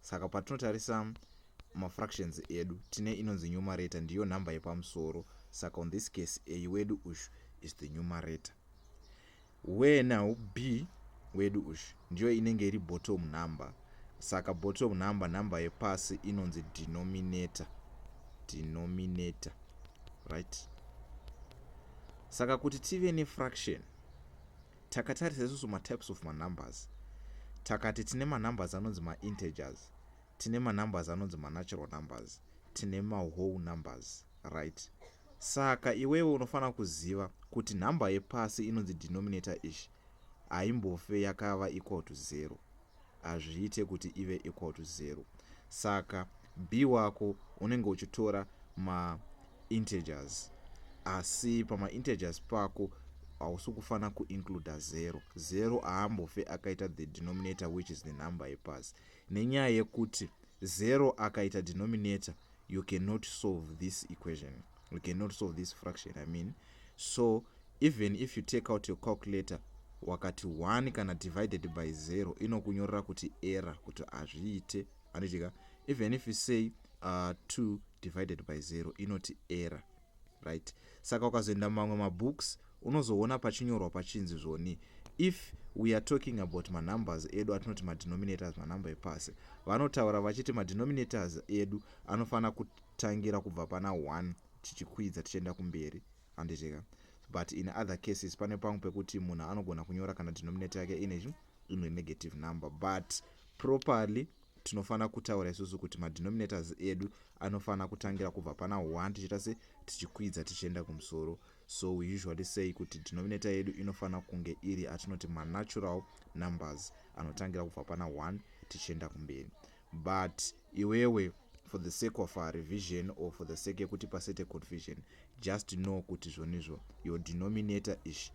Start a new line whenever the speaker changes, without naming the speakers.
Saka patinotarisa mafractions edu tine inonzi numerator ndiyo nhamba yepamusoro saka on this case a wedu ushu is the numerator where now b wedu ushu ndiyo inenge iri bottom number saka bottom number nhamba yepasi inonzi denominator denominator right saka kuti tive nefraction Takatarisa isusu matypes of manumbers takati tine manumbers anonzi maintegers, tine manumbers anonzi manatural numbers, tine mawhole numbers right. Saka iwewe unofanira kuziva kuti number yepasi inonzi denominator ish haimbofe yakava equal to zero. hazviite kuti ive equal to zero saka b wako unenge uchitora ma integers asi pama integers pako hausi kufanira kuincluda zero zero aambofe akaita the denominator which is the number yepasi nenyaya yekuti zero akaita denominator you cannot solve this equation you cannot solve this fraction i mean so even if you take out your calculator wakati 1 kana divided by 0 inokunyorera kuti error kuti hazviite anoitika even if you say uh, 2 divided by 0 inoti error right saka ukazoenda mamwe mabooks unozoona pachinyorwa pachinzi zvoni if we are talking about manumbers edu atinoti madenominators manumber epasi vanotaura vachiti madenominators edu anofanira kutangira kubva pana 1 tichikwidza tichienda kumberi handizveka but in other cases pane pamwe pekuti munhu anogona kunyora kana denominator yake ine imwe negative number but properly tinofanira kutaura isusu kuti madenominators edu anofanira kutangira kubva pana 1 tichiita se tichikwidza tichienda kumusoro so we usually say kuti denominator yedu inofanira kunge iri atinoti manatural numbers anotangira kubva pana 1 tichienda kumberi but iwewe for the sake of a revision or for the sake yekuti pasete confusion just know kuti zvonizvo your denominator ish